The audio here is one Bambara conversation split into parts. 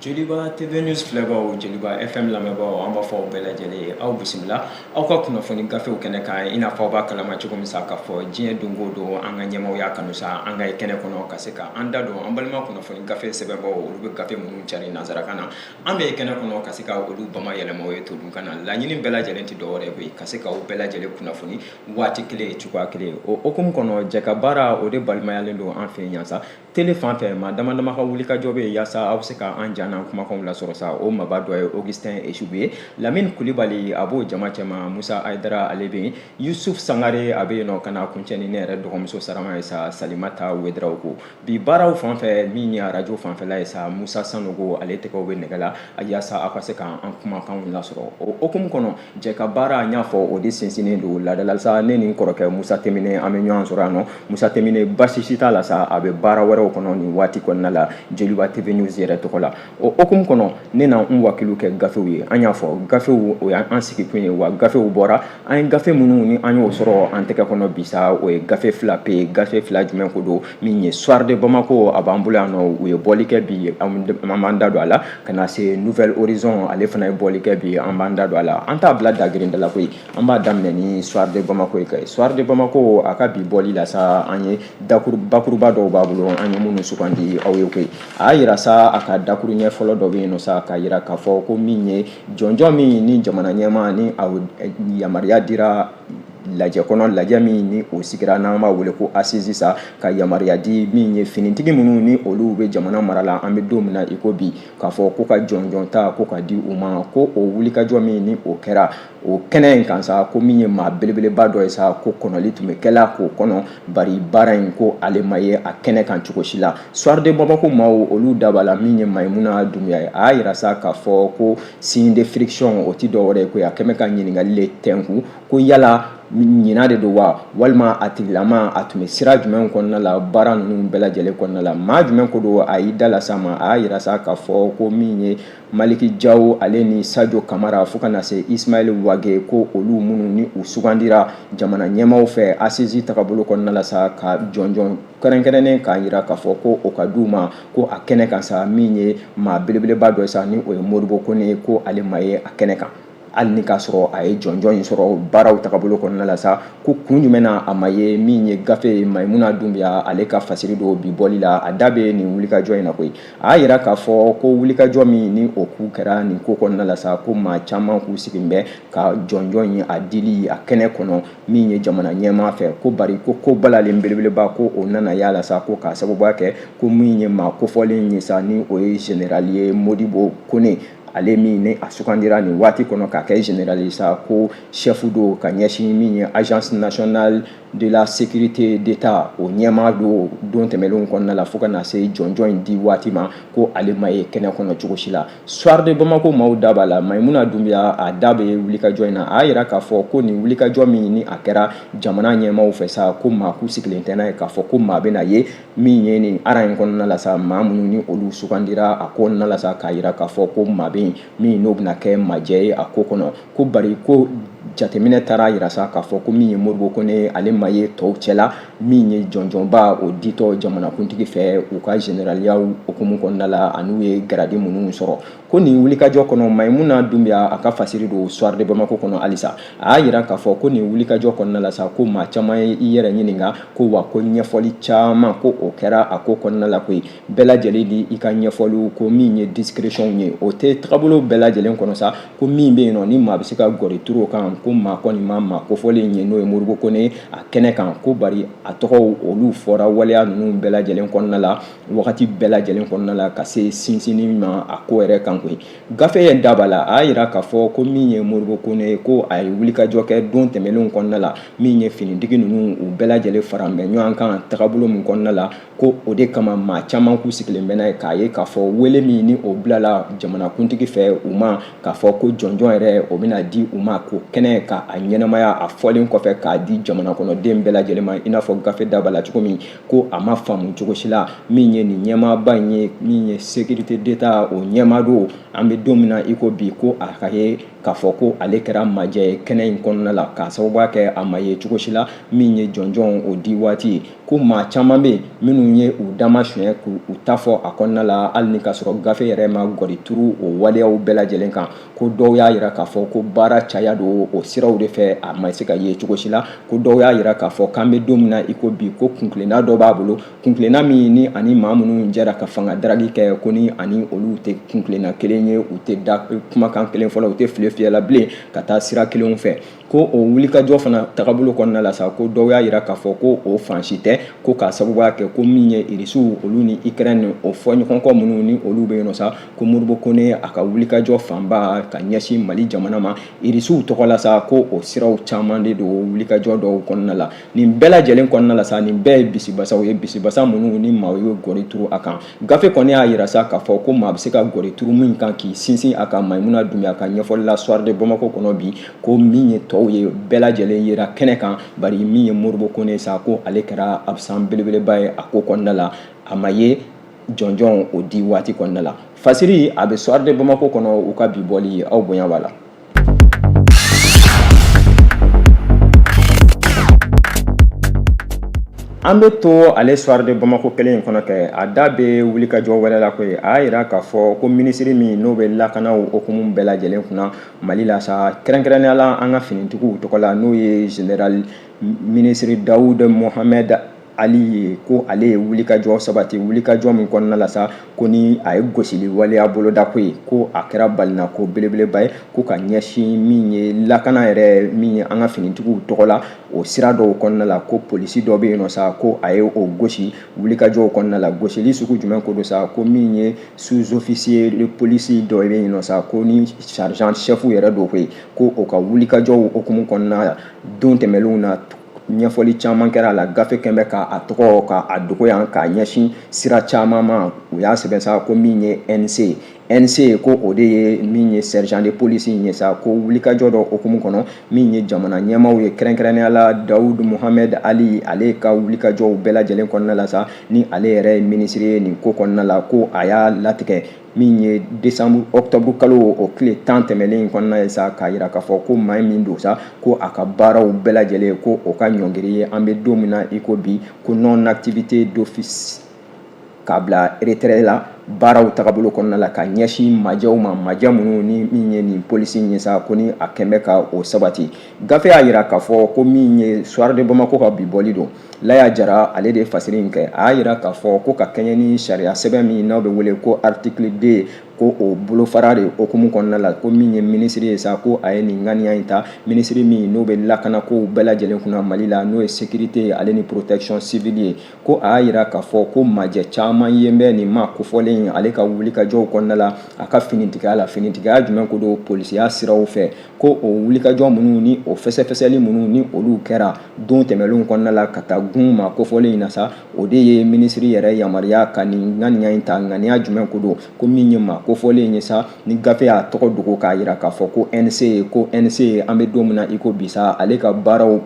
joliba tv news filɛbaaw joliba fm lamɛnbaaw an b'a fɔ aw bɛɛ lajɛlen ye aw bisimila aw ka kunnafoni gafew kɛnɛ kan i n'a fɔ aw b'a kalama cogo min sa k'a fɔ diɲɛ don o don an ka ɲɛmaw y'a kanu sa an ka ye kɛnɛ kɔnɔ ka se ka an da don an balima kunnafoni gafe sɛbɛnbaaw olu bɛ gafe minnu cari nansarakan na an bɛ ye kɛnɛ kɔnɔ ka se ka olu bamayɛlɛma aw ye todunkan na laɲini bɛɛ lajɛlen tɛ dɔwɛrɛ ye koyi ka se ka aw bɛɛ lajɛlen kunnafoni waati kelen cogoya kelen o hokumu kɔnɔ jɛkabaara o de balimayalen don an fɛ yan sa Tele fan fɛ maa dama dama ka wulikajɔ bɛ yen yaasa aw bɛ se ka an ja n'an kumakanw lasɔrɔ sa o maaba dɔ ye Augustin Eshibu ye Lamini Kulibali a b'o jama cɛma Musa Ayidara ale bɛ yen Yusuf Sangare a bɛ yen nɔ ka n'a kuncɛ ni ne yɛrɛ dɔgɔmuso sarama ye sa Salimata Wederawogo bi baaraw fan fɛ min ye arajo fanfɛla ye sa Musa Sanogo ale tɛgɛw bɛ nɛgɛ la yaasa aw ka se ka an kumakanw lasɔrɔ o hukumu kɔnɔ jɛ ka baara n y'a fɔ o de sinsinnen don laada la sa ne ni n kɔrɔkɛ musa temine an bɛ ɲɔgɔn sɔrɔ yan nɔ musa temine basi si t'a la sa a bɛ baara wɛrɛw kɔnɔ nin waati kɔnɔna la joliba tv news yɛrɛ tɔgɔ la o hukumu kɔnɔ ne na n wakiliw kɛ gafew ye an y'a fɔ gafew o y'an sigikun ye wa gafew bɔra an ye gafe minnu ni an y'o sɔrɔ an tɛgɛ kɔnɔ bi sa o ye gafe fila pe gafe fila jumɛn ko don min ye soir de Bamako a b'an bolo yan nɔ u ye bɔli kɛ bi an b'an da don a la ka na se nouvel horizon ale fana ye bɔli kɛ bi an b'an da don a la an t'a bila dagirinda la koyi an b'a daminɛ ni soir de Bamako ye kɛ soir de Bamako a ka bi bɔli la sa an ye bakuruba dɔw b'a bolo an ye minnu sugandi aw ye koyi a y'a yira sa a ka dakuru ɲɛ fɔlɔ dɔ bɛ yen nɔ sa k'a yira k'a fɔ ko min ye jɔnjɔn min ni jamana ɲɛmaa ni a yamaruya dira lajɛ kɔnɔ lajɛ min ni o sigira n'an b'a wele ko assises sa ka yamaruya di min ye finitigi minnu ni olu bɛ jamana mara la an bɛ don min na i ko bi k'a fɔ ko ka jɔnjɔn ta ko ka di u ma ko o wulikajɔ min ni o kɛra o kɛnɛ in kan sa ko min ye maa belebeleba dɔ ye sa ko kɔnɔli tun bɛ kɛla k'o kɔnɔ bari baara in ko ale ma ye a kɛnɛ kan cogo si la soir de Bamako maaw olu da b'a la min ye Mayimuna Dunbiya ye a y'a yira sa k'a fɔ ko signe de friction o ti dɔwɛrɛ ye koyi a kɛmɛ ka ɲininkali le tɛnku ko yala ɲina de don wa walima a tigilama a tun bɛ sira jumɛn kɔnɔna la baara ninnu bɛɛ lajɛlen kɔnɔna la maa jumɛn ko don a y'i da lasama a y'a yira sa k'a fɔ ko min ye maliki jawo ale ni sajo kamara fo ka na se ismail wage ko olu minnu ni u sugandira jamana ɲɛmaaw fɛ assises tagabolo kɔnɔna la sa ka jɔnjɔn kɛrɛnkɛrɛnnen k'a yira k'a fɔ ko o ka di u ma ko a kɛnɛ kan sa min ye maa belebeleba dɔ sa ni o ye modibo kɔnɛ ye ko ale ma ye a kɛnɛ kan hali ni k'a sɔrɔ a ye jɔnjɔn in sɔrɔ baaraw tagabolo kɔnɔna la sa ko kun jumɛn na a ma ye min ye gafe ye mayimuna dunbiya ale ka fasiri don bi bɔli la a da bɛ nin wulikajɔ in na koyi a y'a yira k'a fɔ ko wulikajɔ min ni o kun kɛra nin ko kɔnɔna la sa ko maa caman k'u sigilen bɛ ka jɔnjɔn in a dili a kɛnɛ kɔnɔ min ye jamana ɲɛmaa fɛ ko bari ko ko balalen belebeleba ko o nana y'a la sa ko k'a sababuya kɛ ko min ye maa kofɔlen ye sa ni o ye général ye modibo kone ale min ni a sugandira nin waati kɔnɔ k'a kɛ général ye sa ko chef don ka ɲɛsin min ye agence nationale de la sécurité d'état o ɲɛmaa don don tɛmɛnlenw kɔnɔna la fo ka na se jɔnjɔn in di waati ma ko ale ma ye kɛnɛ kɔnɔ cogo si la Soir de Bamako maaw da b'a la Mayimuna Dunbiya a da bɛ wulikajɔ in na a y'a yira k'a fɔ ko nin wulikajɔ min ni a kɛra jamana ɲɛmaaw fɛ sa ko maa kun sigilen tɛ n'a ye k'a fɔ ko maa bɛna ye min ye nin ara in kɔnɔna la sa maa minnu ni olu sugandira a ko kɔnɔna la sa k'a yira k'a fɔ ko maa bɛ yen min n'o bɛna kɛ majɛ ye a ko kɔnɔ ko bari ko jateminɛ taara a yira sa k'a fɔ ko min ye modibo kone ale ma ye tɔw cɛla min ye jɔnjɔnba o ditɔ jamanakuntigi fɛ u ka generaliya hukumu kɔnɔna la an'u ye garadi minnu sɔrɔ ko nin wulikajɔ kɔnɔ mayimuna dunbiya a ka fasiri don soir de bamako kɔnɔ halisa a y'a yira k'a fɔ ko nin wulikajɔ kɔnɔna la sa ko maa caman ye i yɛrɛ ɲininka ko wa ko ɲɛfɔli caman ko o kɛra a ko kɔnɔna la koyi bɛɛ lajɛlen di i ka ɲɛfɔliw ko min ye discrétion ye o tɛ tagabolo bɛɛ lajɛlen kɔnɔ sa ko min bɛ yen nɔ ni maa bɛ se ka gɔri turu o kan ko maa kɔni ma maa kofɔlen in ye n'o ye modibo kone a kɛnɛ kan ko bari a tɔgɔw olu fɔra waleya ninnu bɛɛ lajɛlen kɔnɔna la wagati bɛɛ lajɛlen kɔnɔna la ka se sinsinni ma a ko yɛrɛ kan koyi gafe in da b'a la a y'a yira k'a fɔ ko min ye modibo kone ye ko a ye wulikajɔ kɛ don tɛmɛnlenw kɔnɔna la min ye finitigi ninnu u bɛɛ lajɛlen faralen bɛ ɲɔgɔn kan tagabolo min kɔnɔna la ko o de kama maa caman kun sigilen bɛ n'a ye k'a ye k'a fɔ wele min ni o bilala jamanakuntigi fɛ u ma k'a fɔ ko jɔnjɔn yɛrɛ o bɛna di u ma ko kɛnɛ kan a ɲɛnamaya a fɔlen kɔfɛ k'a di jamana kɔnɔden bɛɛ lajɛlen ma i n'a fɔ gafe da b'a la cogo min ko a ma faamu cogo si la min ye nin ɲɛmaaba in ye min ye sécurité d'état o ɲɛmaa don an bɛ don min na i ko bi ko a ka ye k'a fɔ ko ale kɛra majɛ ye kɛnɛ in kɔnɔna la k'a sababuya kɛ a ma ye cogo si la min ye jɔnjɔn o di waati ko maa caman bɛ yen minnu ye u dama suɲɛ k'u ta fɔ a kɔnɔna la hali ni ka sɔrɔ gafe yɛrɛ ma gɔri turu o waleyaw bɛɛ lajɛlen kan ko dɔw y'a yira k'a fɔ ko baara caya don o siraw de fɛ a ma se ka ye cogo si la ko dɔw y'a yira k'a fɔ k'an bɛ don min na i ko bi ko kunkilenna dɔ b'a bolo kunkilenna min ni ani maa minnu jɛra ka fanga daragi kɛ ko ni ani olu tɛ kunkilenna kelen ye u tɛ da kumakan kelen fɔla u tɛ file fiyɛla bilen ka taa sira kelenw fɛ ko o wulikajɔ fana tagabolo kɔnɔna la sa ko dɔw y'a yira k'a fɔ ko o fan si tɛ ko k'a sababuya kɛ ko min ye irisiw olu ni ukraine o fɔɲɔgɔnkɔ minnu ni olu bɛ yen nɔ sa ko modibo kone a ka wulikajɔ fanba ka ɲɛsin mali jamana ma irisiw tɔgɔ la sa ko o siraw caman de don wulikajɔ dɔw kɔnɔna la nin bɛɛ lajɛlen kɔnɔna la sa nin bɛɛ ye bisibasaw ye bisibasa minnu ni maa ye gɔri turu a kan gafe kɔni y'a yira sa k'a fɔ ko maa bɛ se ka gɔri turu min kan k'i sinsin a kan mayimuna dunbiya ka ɲɛfɔli la soir de bamako kɔnɔ bi ko min ye tɔw ye bɛɛ lajɛlen yera kɛnɛ kan bari min ye modibo kone sa ko ale kɛra absent belebeleba ye a ko kɔnɔna la a ma ye jɔnjɔn o di waati kɔnɔna la fasiri a bɛ soir de bamako kɔnɔ u ka bi bɔli aw bonya b'a la An bɛ to ale soir de Bamako kelen in kɔnɔ kɛ, a da bɛ wulikajɔ wɛrɛ la koyi, a y'a yira k'a fɔ ko minisiri min n'o bɛ lakanaw hukumu bɛɛ lajɛlen kunna Mali la sa, kɛrɛnkɛrɛnnenya la an ka finitigiw tɔgɔ la n'o ye Général minisiri Dawud Mohamed ali ye ko ale ye wulikajɔ sabati wulikajɔ min kɔnɔna la sa ko ni a ye gosili waleya boloda koyi ko a kɛra balinako belebeleba ye ko ka ɲɛsin min ye lakana yɛrɛ min ye an ka finitigiw tɔgɔ la o sira dɔw kɔnɔna la ko polisi dɔ bɛ yen nɔ sa ko a ye o gosi wulikajɔw kɔnɔna la gosili sugu jumɛn ko don sa ko min ye sous officier de police dɔ bɛ yen nɔ sa ko ni sergent chef yɛrɛ don koyi ko o ka wulikajɔw hukumu kɔnɔna la don tɛmɛnlenw na ɲɛfɔli caman kɛra a la gafe kɛmɛ k'a tɔgɔ ka a dogo yan k'a ɲɛsin sira caman ma u y'a sɛbɛn sa ko min ye nc ye nc ko o de ye min ye sergent de police in ye sa ko wulikajɔ dɔ hukumu kɔnɔ min ye jamana ɲɛmaaw ye kɛrɛnkɛrɛnnenya la dawud mohamed ali ale ka wulikajɔw bɛɛ lajɛlen kɔnɔna la sa ni ale yɛrɛ ye minisiri ye nin ko kɔnɔna la ko a y'a latigɛ min ye décembre octobre kalo o tile tan tɛmɛlen in kɔnɔna ye sa k'a yira k'a fɔ ko maa min don sa ko a ka baaraw bɛɛ lajɛlen ko o ka ɲɔngiri ye an bɛ don min na i ko bi ko non activité d'office k'a bila retraite la baaraw tagabolo kɔnɔna la ka ɲɛsin majɛw ma majɛ minnu ni min ye nin polisi ye sa ko ni a kɛmɛ ka o sabati gafe y'a yira k'a fɔ ko min ye soir de bamako ka bi bɔli don laya jara ale de ye fasiri in kɛ a y'a yira k'a fɔ ko ka kɛɲɛ ni sariya sɛbɛn min n'aw bɛ wele ko article 2 ko o bolofara de hukumu kɔnɔna la ko min ye minisiri ye sa ko a ye nin ŋaniya in ta minisiri min n'o bɛ lakanakow bɛɛ lajɛlen kunna mali la n'o ye sécurité ye ale ni protection civile ye ko a y'a yira k'a fɔ ko majɛ caman ye bɛ nin ma kofɔlen ale ka wulikajɔw kɔnɔna la a ka finitigiya la finitigiya jumɛn ko don polisiya siraw fɛ ko o wulikajɔ minnu ni o fɛsɛfɛsɛli minnu ni olu kɛra don tɛmɛnlenw kɔnɔna la ka taa gun ma kofɔlen in na sa o de ye minisiri yɛrɛ yamaruya ka nin ŋaniya in ta ŋaniya jumɛn ko don ko min ye ma kofɔlen in ye sa ni gafe y'a tɔgɔ dogo k'a yira k'a fɔ ko nc ye ko nc ye an bɛ don min na i ko bi sa ale ka baaraw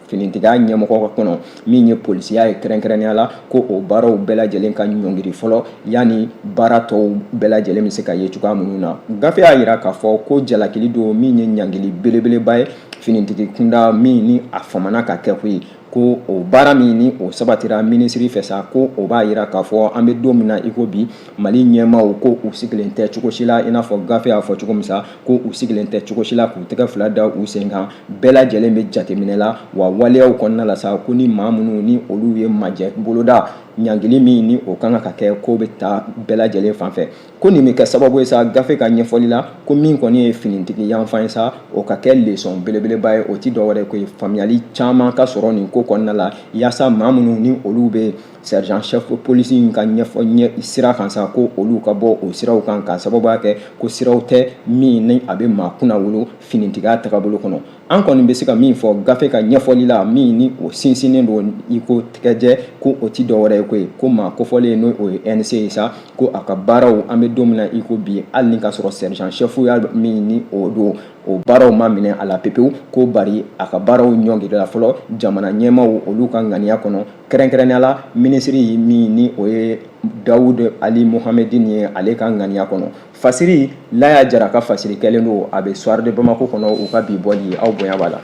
finitigiya ɲɛmɔgɔ kɔnɔ min ye polisiya ye kɛrɛnkɛrɛnnenya la ko o baaraw bɛɛ lajɛlen ka ɲɔngiri fɔlɔ yanni baara tɔw bɛɛ lajɛlen bɛ se ka ye cogoya minnu na gafe y'a yira k'a fɔ ko jalakili don min ye ɲangili belebeleba ye finitigi kunda min ni a famana ka kɛ ko ye ko o baara min ni o sabatira minisiri fɛ sa ko o b'a yira k'a fɔ an bɛ don min na i ko bi mali ɲɛmaaw ko u sigilen tɛ cogo si la i n'a fɔ gafe y'a fɔ cogo min sa ko u sigilen tɛ cogo si la k'u tɛgɛ fila da u sen kan bɛɛ lajɛlen bɛ jateminɛ la wa waleyaw kɔnɔna la sa ko ni maa minnu ni olu ye majɛ boloda ɲangili min ni o kan ka kɛ ko bɛ taa bɛɛ lajɛlen fan fɛ ko nin bɛ kɛ sababu ye sa gafe ka ɲɛfɔli la ko min kɔni ye finitigi yanfan ye sa o ka kɛ lesɔn belebeleba ye o ti dɔwɛrɛ ko ye faamuyali caman ka sɔrɔ nin ko kɔnɔna la yaasa maa minnu ni olu bɛ sergent chef polisi in ka ɲɛfɔ sira kan sa ko olu ka bɔ o siraw kan k'a sababuya kɛ ko siraw tɛ min ni a bɛ maa kunnawolo finitigiya tagabolo kɔnɔ an kɔni bɛ se ka min fɔ gafe ka ɲɛfɔli la min ni o sinsinnen don i ko tɛgɛjɛ ko o ti dɔwɛrɛ ye ko ye ko maa kofɔlen ni o ye nc ye sa ko a ka baaraw an bɛ don min na i ko bi hali ni ka sɔrɔ sergent chef ya min ni o don o baaraw ma minɛ a la pepewu ko bari a ka baaraw ɲɔngirila fɔlɔ jamana ɲɛmaaw olu ka ŋaniya kɔnɔ kɛrɛnkɛrɛnnenya la minisiri min ni o ye dawud ali mohamedin ye ale ka ŋaniya kɔnɔ Fasiri Laya Jara ka fasiri kɛlen don a bɛ Soir de Bamako kɔnɔ u ka bi bɔli aw bonya b'a la.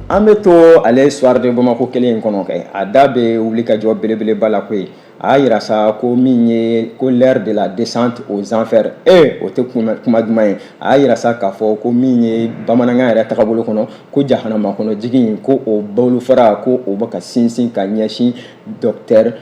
An bɛ to ale Soir de Bamako kelen in kɔnɔ kɛ a da bɛ wulikajɔ belebeleba la koyi a y'a yira sa ko min ye ko l'heure de la descente aux enfers ee o tɛ kuma duman ye a y'a yira sa k'a fɔ ko min ye bamanankan yɛrɛ tagabolo kɔnɔ ko jahanama kɔnɔ jigin ko o bolofara ko o bɛ ka sinsin ka ɲɛsin docteur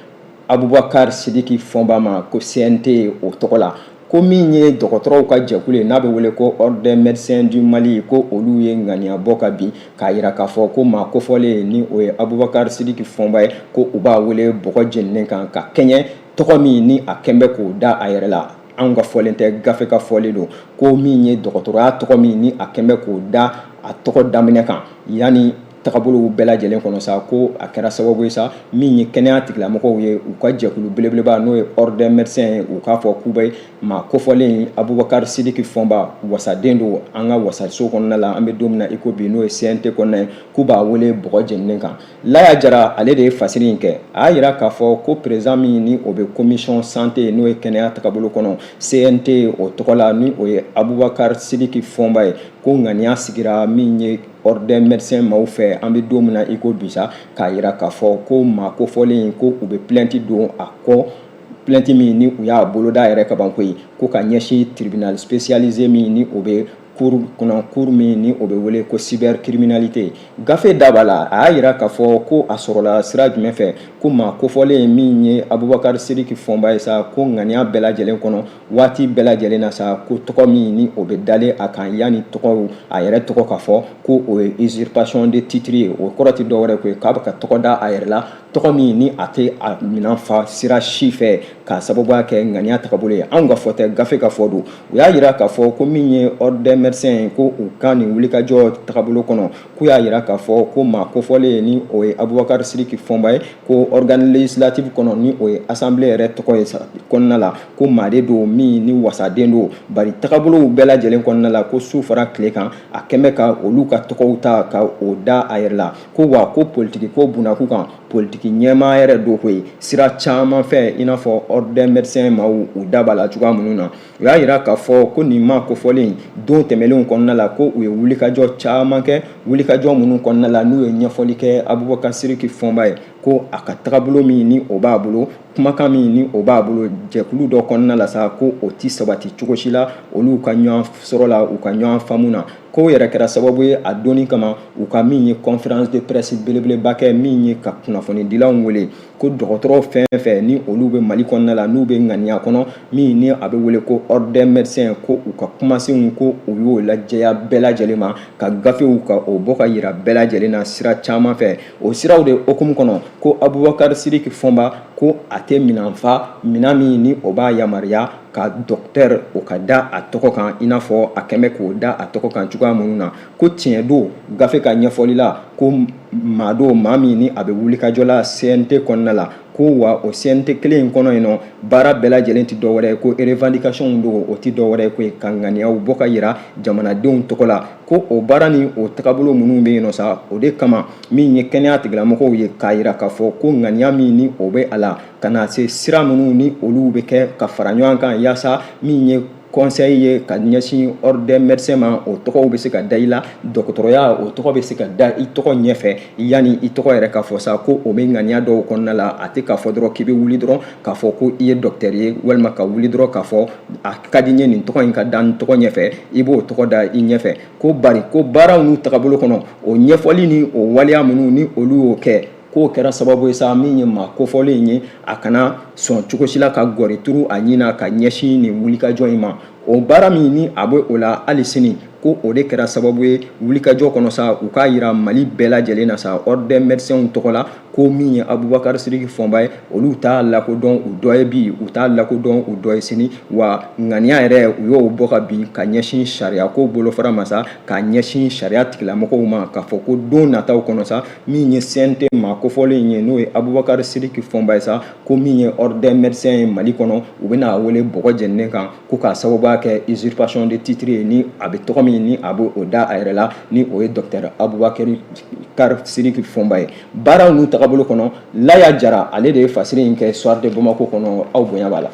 Abubakar Sidiki Fɔnba ma ko CNT o tɔgɔ la ko min ye dɔgɔtɔrɔw ka jɛkulu ye n'a bɛ wele ko ordre des médecins du mali ko olu ye ŋaniya bɔ ka bin k'a yira k'a fɔ ko maa kofɔlen ni o ye abubakar sidiki fɔnba ye ko u b'a wele bɔgɔ jeninen kan ka kɛɲɛ tɔgɔ min ni a kɛn bɛ k'o da a yɛrɛ la anw ka fɔlen tɛ gafe ka fɔlen don ko min ye dɔgɔtɔrɔya tɔgɔ min ni a kɛn bɛ k'o da a tɔgɔ daminɛ kan ani tagabolow bɛɛ lajɛlen kɔnɔ sa ko a kɛra sababu ye sa min ye kɛnɛya tigilamɔgɔw ye u ka jɛkulu belebeleba n'o ye ordre des médecins ye u k'a fɔ k'u bɛ maa kofɔlen Abubakar Sidiki Fɔnba wasaden don an ka wasaso kɔnɔna la an bɛ don min na i ko bi n'o ye CNT kɔnɔna ye k'u b'a wele bɔgɔ jeninen kan Laya Jara ale de ye fasiri in kɛ a y'a yira k'a fɔ ko président min ni o bɛ commission santé n'o ye kɛnɛya tagabolo kɔnɔ CNT o tɔgɔ la ni o ye Abubakar Sidiki Fɔnba ye ko ŋaniya sigira min ye ordre des médecins maaw fɛ an bɛ don min na i ko bi sa k'a yira k'a fɔ ko maa kofɔlen ko u bɛ plainte don a kɔ plainte min ni u y'a boloda yɛrɛ kaban koyi ko ka ɲɛsin tribunal spécialisé min ni o bɛ cour kɔnɔ cour min ni o bɛ wele ko cybercriminalité gafe da b'a la a y'a yira k'a fɔ ko a sɔrɔla sira jumɛn fɛ ko maa kofɔlen min ye abubakari sidiki fɔnba ye sa ko ŋaniya bɛɛ lajɛlen kɔnɔ waati bɛɛ lajɛlen na sa ko tɔgɔ min ni o bɛ dalen a kan yanni tɔgɔw a yɛrɛ tɔgɔ ka fɔ ko o ye usurpation de titre ye o kɔrɔ tɛ dɔwɛrɛ ko ye k'a bɛ ka tɔgɔ da a yɛrɛ la tɔgɔ min ni a tɛ a minan fa sira si fɛ k'a sababuya kɛ ŋaniya tagabolo ye anw ka fɔ tɛ gafe ka fɔ don u y'a yira k'a fɔ ko min ye ordre des médecins ko u ka nin wulikajɔ tagabolo kɔnɔ k'u y'a yira k'a fɔ ko maa kofɔlen ye ni o ye abubakari siriki fɔnba ye ko organe législative kɔnɔ ni o ye assemblée yɛrɛ tɔgɔ ye kɔnɔna la ko maa de don min ni wasaden don bari tagabolow bɛɛ lajɛlen kɔnɔna la ko su fara tile kan a kɛlen bɛ ka olu ka tɔgɔw ta ka o da a yɛrɛ la ko wa ko politiki ko bunnaku kan politiki ɲɛmaa yɛrɛ don koyi sira caman fɛ i n'a fɔ ordre des médecins maaw u da b'a la cogoya minnu na u y'a yira k'a fɔ ko nin maa kofɔlen don tɛmɛnlenw kɔnɔna la ko u ye wulikajɔ caman kɛ wulikajɔ minnu kɔnɔna la n'u ye ɲɛfɔli kɛ abubakar siriki fɔnba ye ko a ka tagabolo min ni o b'a bolo kumakan min ni o b'a bolo jɛkulu dɔ kɔnɔna la sa ko o tɛ sabati cogo si la olu ka ɲɔgɔn sɔrɔ la u ka ɲɔgɔn faamu na ko o yɛrɛ kɛra sababu ye a donni kama u ka min ye conférence de presse belebeleba kɛ min ye ka kunnafonidilanw wele ko dɔgɔtɔrɔ fɛn fɛn ni olu bɛ mali kɔnɔna la n'u bɛ ŋaniya kɔnɔ min ni a bɛ wele ko ordre des médecins ko u ka kumasenw ko u y'o lajɛya bɛɛ lajɛlen ma ka gafew ka o bɔ ka yira bɛɛ lajɛlen na sira caman fɛ o siraw de hukumu kɔnɔ ko abubakar siriki fɔnba ko a tɛ minan fa minan min ni o b'a yamaruya ka docteur o ka da a tɔgɔ kan i n'a fɔ a kɛlen bɛ k'o da a tɔgɔ kan cogoya minnu na ko tiɲɛ don gafe ka ɲɛfɔli la ko maa don maa min ni a bɛ wulikajɔ la cnt kɔnɔna la ko wa o cnt kelen in kɔnɔ yen nɔ baara bɛɛ lajɛlen tɛ dɔwɛrɛ ye ko revendication don o tɛ dɔwɛrɛ ye koyi ka ŋaniyaw bɔ ka yira jamanadenw tɔgɔ la ko o baara ni o tagabolo minnu bɛ yen nɔ sa o de kama min ye kɛnɛya tigilamɔgɔw ye k'a yira k'a fɔ ko ŋaniya min ni o bɛ a la ka na se sira minnu ni olu bɛ kɛ ka fara ɲɔgɔn kan yaasa min ye conseil ye ka ɲɛsin ordre des médecins ma o tɔgɔw bɛ se ka da i la dɔgɔtɔrɔya o tɔgɔ bɛ se ka da i tɔgɔ ɲɛfɛ yanni i tɔgɔ yɛrɛ ka fɔ sa ko o bɛ ŋaniya dɔw kɔnɔna la a tɛ k'a fɔ dɔrɔn k'i bɛ wuli dɔrɔn k'a fɔ ko i ye docteur ye walima ka wuli dɔrɔn k'a fɔ a ka di n ye nin tɔgɔ in ka da n tɔgɔ ɲɛfɛ i b'o tɔgɔ da i ɲɛfɛ ko bari ko baaraw n'u tagabolo kɔnɔ o ɲɛfɔli ni o waleya minnu ni olu y'o kɛ k'o kɛra sababu ye sa min ye maa kofɔlen in ye a kana sɔn cogo si la ka gɔri turu a ɲin na ka ɲɛsin nin wulikajɔ in ma o baara min ni a bɛ o la hali sini ko o de kɛra sababu ye wulikajɔ kɔnɔ sa u k'a yira mali bɛɛ lajɛlen na sa ordre des médecins tɔgɔ la ko min ye abubakar siriki fɔnba ye olu t'a lakodɔn u dɔ ye bi u t'a lakodɔn u dɔ ye sini wa ŋaniya yɛrɛ u y'o bɔ ka bin ka ɲɛsin sariya ko bolofara ma sa ka ɲɛsin sariya tigilamɔgɔw ma k'a fɔ ko don nataw kɔnɔ sa min ye CNT maa kofɔlen in ye n'o ye Abubakar Sidiki Fɔnba ye sa ko min ye ordre des médecins ye Mali kɔnɔ u bɛna a wele bɔgɔ jɛninen kan ko k'a sababuya kɛ usurpation de titre ye ni a bɛ tɔgɔ min ni a bɛ o da a yɛrɛ la ni o ye docteur Abubakar Sidiki Fɔnba ye baaraw n'u tagabolo kɔnɔ Laya Jara ale de ye fasiri in kɛ Soir de Bamako kɔnɔ aw bonya b'a la.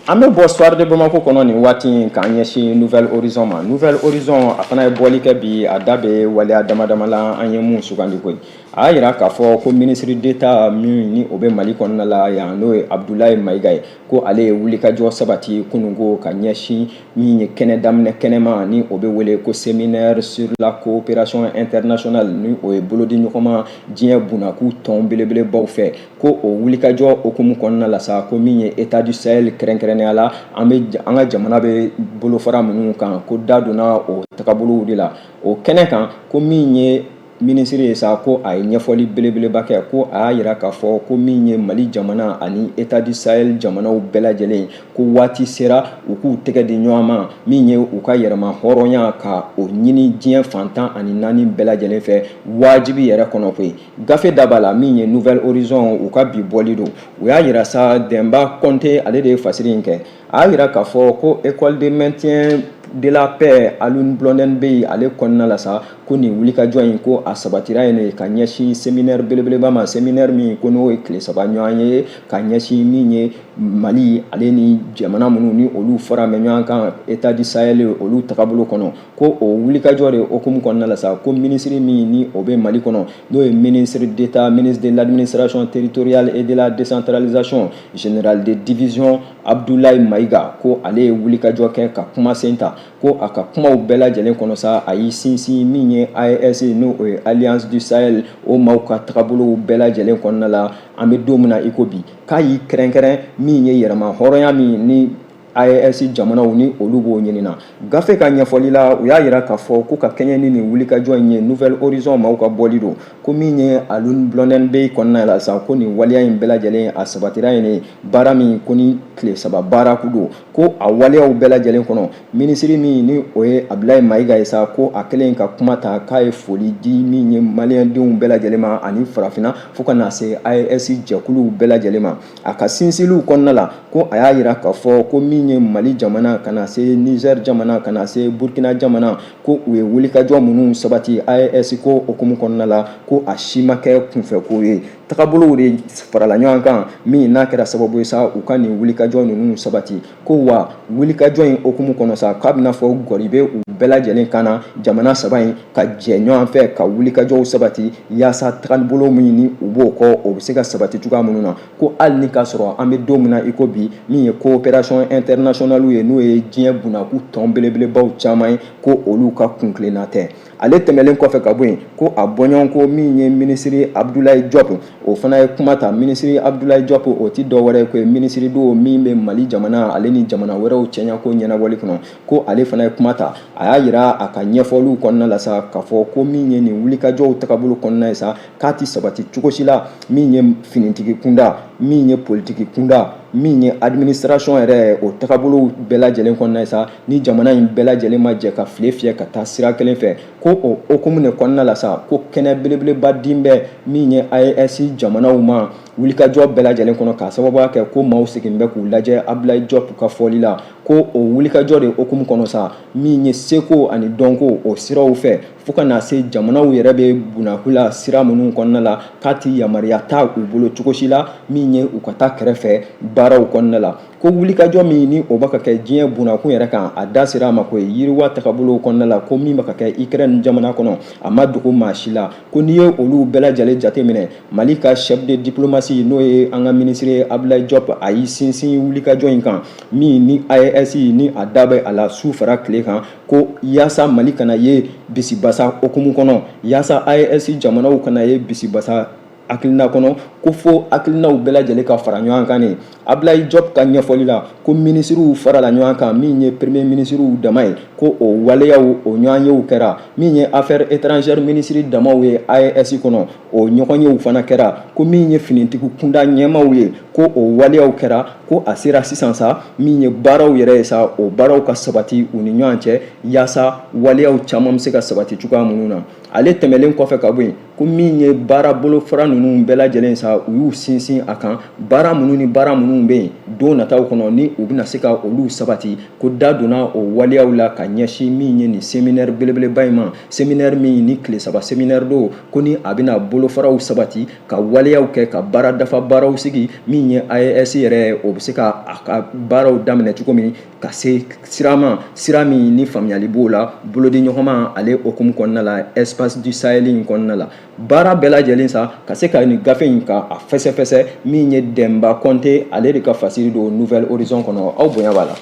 An bɛ bɔ Soir de Bamako kɔnɔ nin waati in k'an ɲɛsin Nouvel Horizon ma Nouvel Horizon a fana ye bɔli kɛ bi a da bɛ waleya dama dama la an ye mun sugandi koyi a y'a yira k'a fɔ ko ministre d'Etat min ni o bɛ Mali kɔnɔna la yan n'o ye Abudulayi Mayiga ye ko ale ye wulikajɔ sabati kunungo ka ɲɛsin min ye kɛnɛ daminɛ kɛnɛma ni o bɛ wele ko séminaire sur la coopération internationale ni o ye bolodiɲɔgɔnma diɲɛ bunakuu tɔn belebelebaw fɛ ko o wulikajɔ hokumu kɔnɔna la sa ko min ye états du sahel kɛrɛnkɛrɛnnenya la an ka jamana bɛ bolofara minnu kan ko da donna o tagabolow de la o kɛnɛ kan ko min ye minisiri ye sa ko a ye ɲɛfɔli belebeleba kɛ ko a y'a yira k'a fɔ ko min ye mali jamana ani états du sahel jamanaw bɛɛ lajɛlen ko waati sera u k'u tɛgɛ di ɲɔgɔn ma min ye u ka yɛrɛma hɔrɔnya ka o ɲini diɲɛ fan tan ani naani bɛɛ lajɛlen fɛ wajibi yɛrɛ kɔnɔ koyi gafe da b'a la min ye nouvel horizon u ka bi bɔli don u y'a yira sa dɛnba kɔnte ale de ye fasiri in kɛ a y'a yira k'a fɔ ko école de maintien de la paix Alioune Blondin Beye ale kɔnɔna la sa ko nin wulikajɔ in ko a sabatira yen de ka ɲɛsin séminaire belebeleba ma séminaire min ko n'o ye tile saba ɲɔgɔn ye ka ɲɛsin min ye Mali ale ni jamana minnu ni olu faramɛ ɲɔgɔn kan états du Sahel olu tagabolo kɔnɔ ko o wulikajɔ de hokumu kɔnɔna la sa ko minisiri min ni o bɛ Mali kɔnɔ n'o ye ministre d'État ministre de l'administration territoriale et de la décentralisation Général de division Abdoulaye Maïga ko ale ye wulikajɔ kɛ ka kumasen ta ko a ka kumaw bɛɛ lajɛlen kɔnɔ sa a y'i sinsin min ye AES n'o ye Alliance du Sahel o maaw ka tagabolow bɛɛ lajɛlen kɔnɔna la an bɛ don min na i ko bi k'a y'i kɛrɛnkɛrɛn min ye yɛrɛma hɔrɔnya min ni AES jamanaw ni olu b'o ɲinina gafe ka ɲɛfɔli la u y'a yira k'a fɔ ko ka kɛɲɛ ni nin wulikajɔ in ye nouvel horizon maaw ka bɔli don ko min ye alun blɔndɛn bey kɔnɔna la sa ko nin waleya in bɛɛ lajɛlen a sabatira ye nin baara min ko ni tile saba baara kun don ko a waleyaw bɛɛ lajɛlen kɔnɔ minisiri min ni o ye abilayi mayiga ye sa ko a kɛlen ka kuma ta k'a ye foli di min ye maliyɛndenw bɛɛ lajɛlen ma ani farafina fo ka na se AES jɛkuluw bɛɛ lajɛlen ma A ka sinsinliw kɔnɔna la ko a y'a yira k'a fɔ ko min ye mali jamana ka na se Niger jamana ka na se burukina jamana ko u ye wulikajɔ minnu sabati AES ko okumu kɔnɔna la ko a si ma kɛ kunfɛko ye tagabolow de farala ɲɔgɔn kan min n'a kɛra sababu ye sa u ka nin wulikajɔ ninnu sabati ko wa wulikajɔ in okumu kɔnɔ sa k'a b'i n'a fɔ gɔri bɛ u bɛɛ lajɛlen kan na jamana saba in ka jɛ ɲɔgɔn fɛ ka wulikajɔw sabati yaasa tagalibolo min ni u b'o kɔ o bɛ se ka sabati cogoya minnu na ko hali ni k'a sɔrɔ an bɛ don min na i ko bi min ye coopération internationale ye n'o ye diɲɛ bunakun tɔn belebelebaw caman ye ko olu ka kuntilenna tɛ ale tɛmɛnlen kɔfɛ ka bɔ yen ko a bɔɲɔgɔnko min ye minisiri abudulayi jɔp o fana ye kuma ta minisiri abudulayi jɔp o tɛ dɔwɛrɛ ko ye minisiri don min bɛ mali jamana ale ni jamana wɛrɛw cɛɲako ɲɛnabɔli kɔnɔ ko ale fana ye kuma ta a y'a yira a ka ɲɛfɔliw kɔnɔna la sa k'a fɔ ko min ye nin wulikajɔw tagabolo kɔnɔna ye sa k'a tɛ sabati cogo si la min ye finitigi kunda min ye politiki kunda min ye administration yɛrɛ o tagabolow bɛɛ lajɛlen kɔnɔna ye sa ni jamana in bɛɛ lajɛlen ma jɛ ka file fiyɛ ka taa sira kelen fɛ ko o hokumu de kɔnɔna la sa ko kɛnɛ belebeleba din bɛ min ye AES jamanaw ma wulikajɔ bɛɛ lajɛlen kɔnɔ k'a sababuya kɛ ko maaw sigin bɛ k'u lajɛ Abdulayi Jɔp ka fɔli la ko o wulikajɔ de hokumu kɔnɔ sa min ye seko ani dɔnko o siraw fɛ fo ka na se jamanaw yɛrɛ bɛ bunakun la sira minnu kɔnɔna la k'a tɛ yamaruya ta u bolo cogo si la min ye u ka taa kɛrɛfɛ baaraw kɔnɔna la ko wulikajɔ min ni o bɛ ka kɛ diɲɛ bunakun yɛrɛ kan a da sera a ma ko ye yiriwa tagabolow kɔnɔna la ko min bɛ ka kɛ Ukraine jamana kɔnɔ a ma dogo maa si la ko n'i ye olu bɛɛ lajɛlen jateminɛ Mali ka chef de diplomatie n'o ye an ka minisiri ye Abdoulaye Diop a y'i sinsin wulikajɔ in kan min ni AES ni a da bɛ a la su fara tile kan ko yaasa Mali kana ye bisibasa hukumu kɔnɔ yaasa AES jamanaw kana ye bisibasa hakilina kɔnɔ ko fo hakilinaw bɛɛ lajɛlen ka fara ɲɔgɔn kan de abilayi jɔp ka ɲɛfɔli la ko minisiriw farala ɲɔgɔn kan min ye premier minisiriw dama ye ko o waleyaw o ɲɔgɔnyew kɛra min ye affaires étrangères minisiri damaw ye AES kɔnɔ o ɲɔgɔnyew fana kɛra ko min ye finitigiw kunda ɲɛmaaw ye ko o waleyaw kɛra ko a sera sisan sa min ye baaraw yɛrɛ ye sa o baaraw ka sabati u ni ɲɔgɔn cɛ yaasa waleyaw caman bɛ se ka sabati cogoya minnu na ale tɛmɛlen kɔfɛ ka bɔ yen ko min ye baara bolofara ninnu bɛɛ lajɛlen sa u y'u sinsin a kan baara minnu ni baara minnu bɛ yen don nataw kɔnɔ ni u bɛna se ka olu sabati ko da donna o waleyaw la ka ɲɛsin min ye nin seminɛri belebeleba in ma seminɛri min ni tile saba seminɛri don ko ni a bɛna bolofaraw sabati ka waleyaw kɛ ka baara dafa baaraw sigi min ye AES yɛrɛ o bɛ se ka a ka baaraw daminɛ cogo min ka se sira ma sira min ni faamuyali b'o la bolodiɲɔgɔnma ale hukumu kɔnɔna la espace du sahel in kɔnɔna la baara bɛɛ lajɛlen sa ka se ka nin gafe in ka a fɛsɛfɛsɛ min ye dɛmba kɔnte ale de ka fasiri don nouvel horizon kɔnɔ aw bonya b'a la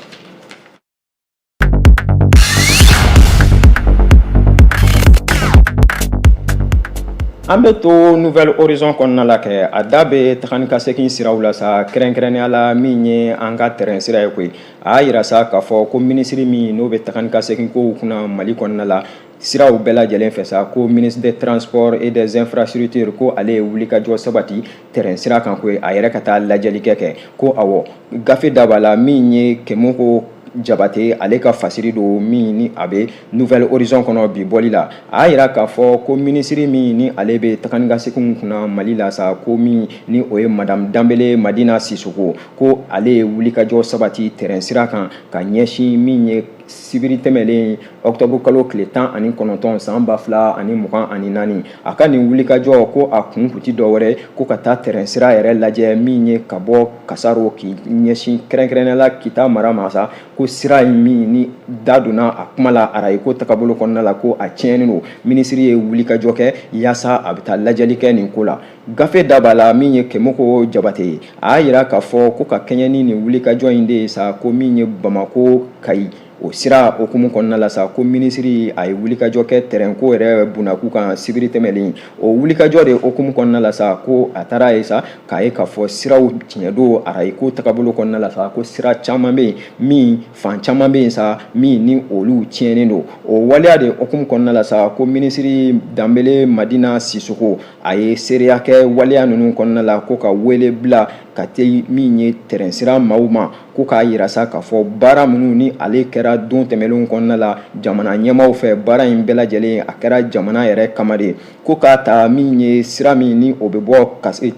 An bɛ to nouvel horizon kɔnɔna la kɛ, a da bɛ taga ni ka segin siraw la sa, kɛrɛnkɛrɛnnenya la min ye an ka tɛrɛn sira ye koyi, a y'a yira sa k'a fɔ ko minisiri min n'o bɛ taga ni ka segin kow kunna Mali kɔnɔna la, siraw bɛɛ lajɛlen fɛ sa, ko ministre des transports et des infrastructures ko ale ye wulikajɔ sabati tɛrɛn sira kan koyi, a yɛrɛ ka taa lajɛli kɛ kɛ, ko awɔ, gafe da b'a la min ye Kemoko Jabate ale ka fasiri don min ni a bɛ nouvel horizon kɔnɔ bi bɔli la a y'a yira k'a fɔ ko minisiri min ni ale bɛ taga ni ka seginw kunna mali la sa ko min ni o ye madame danbele madina sisoko ko ale ye wulikajɔ sabati tɛrɛn sira kan ka ɲɛsin min ye sibiri tɛmɛlen ɔkutɔburu kalo tile tan ani kɔnɔntɔn san ba fila ani mugan ani naani a ka nin wulikajɔ ko a kun kun tɛ dɔ wɛrɛ ko ka taa tɛrɛn sira yɛrɛ lajɛ min ye ka bɔ kasaro k'i ɲɛsin kɛrɛnkɛrɛnnenya la kita mara ma sa ko sira in min ni da donna a kuma la arayiko tagabolo kɔnɔna la ko a tiɲɛnen don minisiri ye wulikajɔ kɛ yaasa a bɛ taa lajɛli kɛ nin ko la gafe da b'a la min ye kemoko jabate ye a y'a yira k'a fɔ ko ka kɛɲɛ ni nin wulikajɔ in de ye sa ko min ye bamako kayi o sira hukumu kɔnɔna la sa ko minisiri a ye wulikajɔ kɛ tɛrɛnko yɛrɛ bunakun kan sibiri tɛmɛlen o wulikajɔ de hukumu kɔnɔna la sa ko a taara a ye sa k'a ye k'a fɔ siraw tiɲɛ don arayi ko tagabolo kɔnɔna la sa ko sira caman bɛ yen min fan caman bɛ yen sa min ni olu tiɲɛnen don o waleya de hukumu kɔnɔna la sa ko minisiri danbele madina sisoko a ye seereya kɛ waleya ninnu kɔnɔna la ko ka wele bila ka tɛ min ye tɛrɛn sira maaw ma ko k'a yira sa k'a fɔ baara minnu ni ale kɛra don tɛmɛnlenw kɔnɔna la jamana ɲɛmaaw fɛ baara in bɛɛ lajɛlen a kɛra jamana yɛrɛ kama de ko k'a ta min ye sira min ni o bɛ bɔ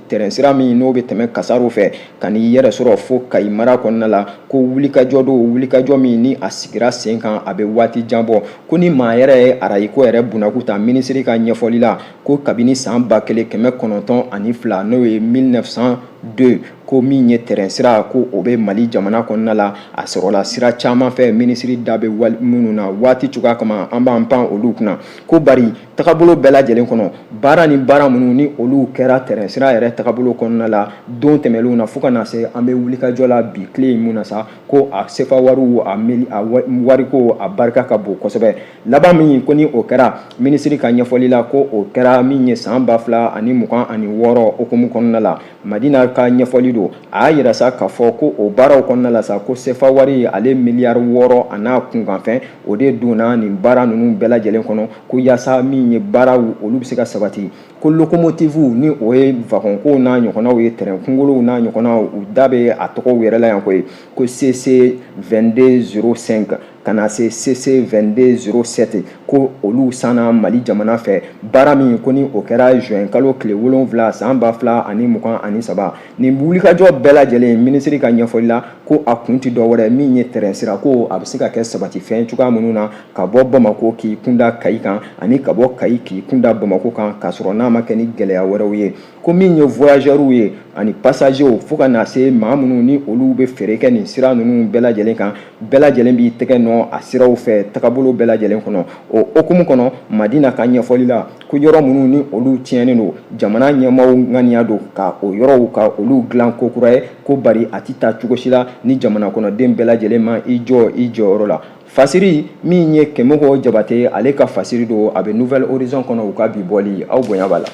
tɛrɛn sira min n'o bɛ tɛmɛ kasaro fɛ ka n'i yɛrɛ sɔrɔ fo kayi mara kɔnɔna la ko wulikajɔ don wulikajɔ min ni a sigira sen kan a bɛ waati jan bɔ ko ni maa yɛrɛ ye arayiko yɛrɛ bunaku ta minisiri ka ɲɛfɔli la ko kabini san ba kelen kɛmɛ kɔnɔntɔn ani fila n'o ye 1902 ko min ye tɛrɛn sira ko o bɛ mali jamana kɔnɔna la a sɔrɔla sira caman fɛ minisiri da bɛ minnu na waati cogoya kama an b'an pan olu kunna ko bari tagabolo bɛɛ lajɛlen kɔnɔ baara ni baara minnu ni olu kɛra tɛrɛn sira yɛrɛ tagabolo kɔnɔna la don tɛmɛlenw na fo ka na se an bɛ wulikajɔ la bi tile in mun na sa ko a sefa wariw a meli a wariko a barika ka bon kosɛbɛ laban min ko ni o kɛra minisiri ka ɲɛfɔli la ko o kɛra min ye san ba fila ani mugan ani wɔɔrɔ o hukumu kɔnɔna la Madina ka ɲɛfɔli don a y'a yira sa k'a fɔ ko o baaraw kɔnɔna la sa ko sefa wari ale miliyari wɔɔrɔ an'a kunkanfɛn o de donna nin baara ninnu bɛɛ lajɛlen kɔnɔ ko yaasa min ye baaraw olu bɛ se ka sabati ko lokomotifu ni o ye vagɔnko n'a ɲɔgɔnnaw ye tɛrɛn kunkolow n'a ɲɔgɔnnaw u da bɛ a tɔgɔw yɛrɛ la yan koyi ko CC 2205 ka na se CC 2207 ko olu sanna mali jamana fɛ baara min ko ni o kɛra juin kalo tile wolonwula san ba fila ani mugan ani saba nin wulikajɔ bɛɛ lajɛlen minisiri ka ɲɛfɔli la ko a kun tɛ dɔ wɛrɛ min ye tɛrɛn sira ko a bɛ se ka kɛ sabatifɛn cogoya minnu na ka bɔ bamako k'i kunda kayi kan ani ka bɔ kayi k'i kunda bamako kan k'a sɔrɔ n'a ma kɛ ni gɛlɛya wɛrɛw ye ko min ye voyageurs ye ani passagers fo ka na se maa minnu ni olu bɛ feere kɛ nin sira ninnu bɛɛ lajɛlen kan bɛɛ lajɛlen b'i tɛgɛ nɔ a siraw fɛ tagabolo bɛɛ lajɛlen kɔnɔ o hukumu kɔnɔ madina ka ɲɛfɔli la ko yɔrɔ minnu ni olu tiɲɛnen don jamana ɲɛmaaw ŋaniya don ka o yɔrɔw ka olu dilan ko kura ye ko bari a tɛ taa cogo si la ni jamana kɔnɔden bɛɛ lajɛlen ma i jɔ i jɔyɔrɔ la Fasiri min ye Kemoko Jabate, ale ka fasiri don, a bɛ Nouvel horizon kɔnɔ u ka bi bɔli, aw bonya b'a la.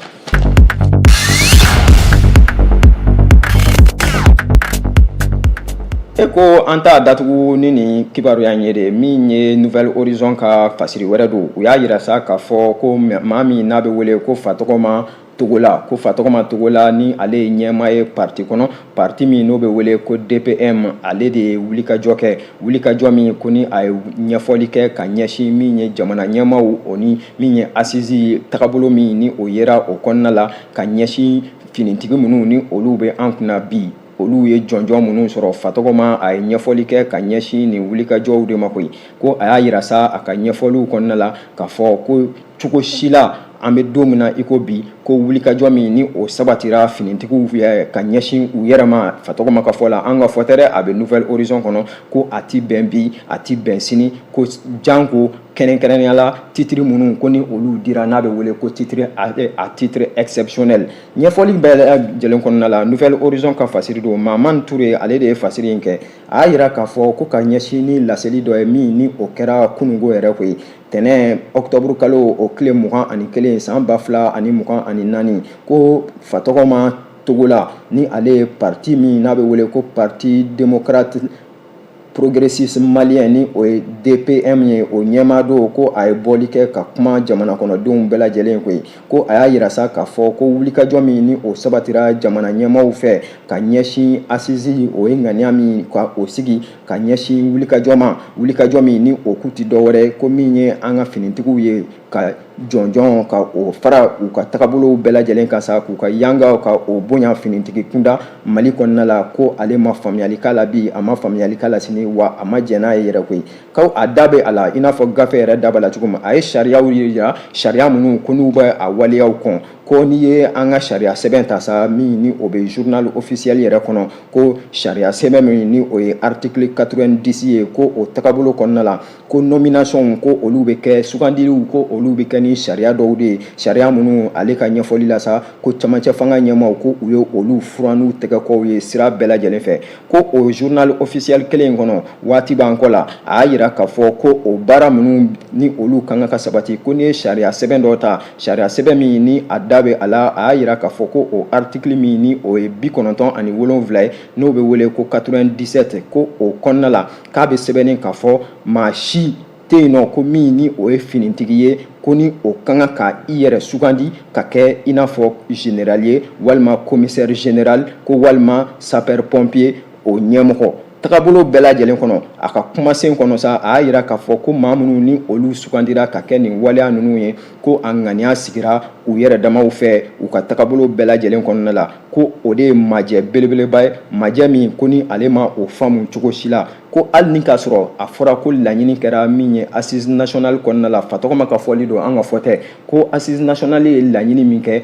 E ko an t'a datugu ni nin kibaruya in ye de, min ye Nouvel horizon ka fasiri wɛrɛ don, u y'a yira sa k'a fɔ ko maa min n'a bɛ wele ko Fatɔgɔma togola ko fatɔgɔma togola ni ale ye ɲɛmaa ye parti kɔnɔ parti min n'o bɛ wele ko dpm ale de ye wulikajɔ kɛ wulikajɔ min ko ni a ye ɲɛfɔli kɛ ka ɲɛsin min ye jamana ɲɛmaaw o ni min ye asizi tagabolo min ni o yera o kɔnɔna la ka ɲɛsin finitigi minnu ni olu bɛ an kunna bi olu ye jɔnjɔn minnu sɔrɔ fatɔgɔma a ye ɲɛfɔli kɛ ka ɲɛsin nin wulikajɔw de ma koyi ko a y'a yira sa a ka ɲɛfɔliw kɔnɔna la k'a fɔ ko cogo si la an bɛ don min na i ko bi ko wulikajɔ min ni o sabatira finitigiw ka ɲɛsin u yɛrɛ ma fatɔgɔma ka fɔ la an ka fɔ tɛ dɛ a bɛ nouvel horizon kɔnɔ ko a ti bɛn bi a ti bɛn sini ko janko kɛrɛnkɛrɛnnenya la titiri minnu ko ni olu dira n'a bɛ wele ko titre à titre exceptionnel ɲɛfɔli bɛɛ lajɛlen kɔnɔna la nouvel horizon ka fasiri don maman ture ale de ye fasiri in kɛ a y'a yira k'a fɔ ko ka ɲɛsin ni laseli dɔ ye min ni o kɛra kunungo yɛrɛ koyi tɛnɛn ɔkutɔburu kalo o tile mugan ani kelen san ba fila ani mugan ani naani ko fatɔgɔma togola ni ale ye parti min n'a bɛ wele ko parti démocrate progressiste malien ni o ye DPM ye o ɲɛmaa don ko a ye bɔli kɛ ka kuma jamana kɔnɔdenw bɛɛ lajɛlen koyi ko a y'a yira sa k'a fɔ ko wulikajɔ min ni o sabatira jamana ɲɛmaaw fɛ ka ɲɛsin assise o ye ŋaniya min ka o sigi ka ɲɛsin wulikajɔ ma wulikajɔ min ni o kun tɛ dɔwɛrɛ ko min ye an ka finitigiw ye ka jɔnjɔn ka o fara u ka tagabolow bɛɛ lajɛlen kan sa k'u ka yangaw ka o bonya finitigi kunda Mali kɔnɔna la ko ale ma faamuyali k'a la bi a ma faamuyali k'a la sini wa a ma jɛn n'a ye yɛrɛ koyi ko a da bɛ a la i n'a fɔ gafe yɛrɛ da b'a la cogo min a ye sariyaw yira sariya minnu ko n'u bɛ a waleyaw kɔn ko n'i ye an ka sariya sɛbɛn ta sa min ni o bɛ journal officiel yɛrɛ kɔnɔ ko sariya sɛbɛn min ni o ye article 90 ye ko o tagabolo kɔnɔna la ko nomination ko olu bɛ kɛ sugandiliw ko olu bɛ kɛ ni sariya dɔw de ye sariya minnu ale ka ɲɛfɔli la sa ko camancɛ fanga ɲɛmaaw ko u ye olu furan n'u tɛgɛkɔw ye sira bɛɛ lajɛlen fɛ ko o journal officiel kelen kɔnɔ waati b'an kɔ la a y'a yira k'a fɔ ko o baara minnu ni olu ka kan ka sabati ko n'i ye sariya sɛbɛn dɔ ta sariya sɛbɛn min ni a da bɛ a la a y'a yira k'a fɔ ko o article min ni o ye bi kɔnɔntɔn ani wolonwula ye n'o bɛ wele ko 97 ko o kɔnɔna la k'a bɛ sɛbɛnnen k'a fɔ maa si tɛ yen nɔ ko min ni o ye finitigi ye ko ni o ka kan ka i yɛrɛ sugandi ka kɛ i n'a fɔ général ye walima commissaire général ko walima sapeur pompier o ɲɛmɔgɔ tagabolo bɛɛ lajɛlen kɔnɔ a ka kumasen kɔnɔ sa a y'a yira k'a fɔ ko maa minnu ni olu sugandira ka kɛ nin waleya ninnu ye ko a ŋaniya sigira u yɛrɛ damaw fɛ u ka tagabolo bɛɛ lajɛlen kɔnɔna la ko o de ye majɛ belebeleba ye majɛ min ko ni ale ma o faamu cogo si la ko hali ni k'a sɔrɔ a fɔra ko laɲini kɛra min ye assise nationale kɔnɔna la Fatɔgɔma ka fɔli don an ka fɔ tɛ ko assise nationale ye laɲini min kɛ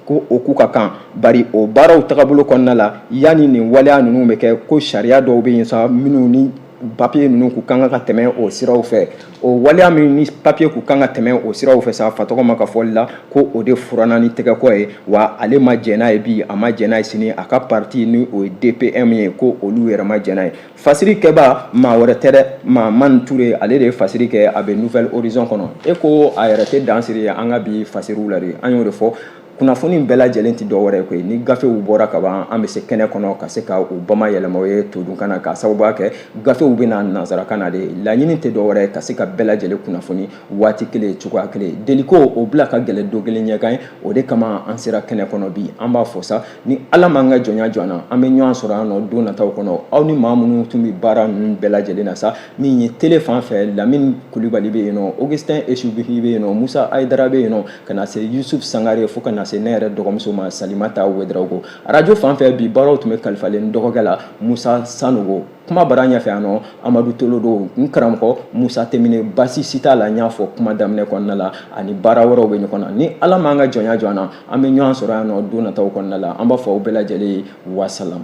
ko o kun ka kan bari o baaraw tagabolo kɔnɔna la yanni nin waleya ninnu bɛ kɛ ko sariya dɔw bɛ yen sa minnu ni papiye ninnu kun kan ka tɛmɛ o siraw fɛ o waleya min ni papiye kun kan ka tɛmɛ o siraw fɛ sa Fatɔgɔma ka fɔli la ko o de furanna ni tɛgɛkɔ ye wa ale ma jɛn n'a ye bi a ma jɛn n'a ye sini a ka parti ni o ye DPM ye ko olu yɛrɛ ma jɛn n'a ye fasiri kɛbaa maa wɛrɛ tɛ dɛ Mahamani Ture ale de ye fasiri kɛ a bɛ Nouvel Horizon kɔnɔ e ko a yɛrɛ tɛ dan siri an ka bi fasiriw la de an y'o de fɔ kunnafoni bɛɛ lajɛlen tɛ dɔwɛrɛ koyi ni gafew bɔra ka ban an bɛ se kɛnɛ kɔnɔ ka se ka u bamayɛlɛma aw ye todunkan na k'a sababuya kɛ gafew bɛ na nansarakan na de laɲini tɛ dɔwɛrɛ ka se ka bɛɛ lajɛlen kunnafoni waati kelen cogoya kelen deliko o bila ka gɛlɛn don kelen ɲɛkan ye o de kama an sera kɛnɛ kɔnɔ bi an b'a fɔ sa ni Ala m'an ka jɔnya jɔ an na an bɛ ɲɔgɔn sɔrɔ yan nɔ don nataw kɔnɔ aw ni maa minnu tun bɛ baara ninnu bɛɛ lajɛlen na sa min ye tele fan fɛ Lamini Kulibali bɛ yen nɔ Augustin Esubi bɛ yen nɔ Musa Ayidara bɛ yen nɔ ka na se yusuf sangare fo ka na se ne yɛrɛ dɔgɔmuso ma salimata wedarago arajo fan fɛ bi baaraw tun bɛ kalifalen dɔgɔkɛ la musa sanogo kumabara ɲɛfɛ yan nɔ amadu tolo don n karamɔgɔ musa temine basi si t'a la n y'a fɔ kuma daminɛ kɔnɔna la ani baara wɛrɛw bɛ ɲɔgɔn na ni ala m'an ka jɔnya jɔ an na an bɛ ɲɔgɔn sɔrɔ yan nɔ don nataw kɔnɔna la an b'a fɔ aw bɛɛ lajɛlen ye wasalam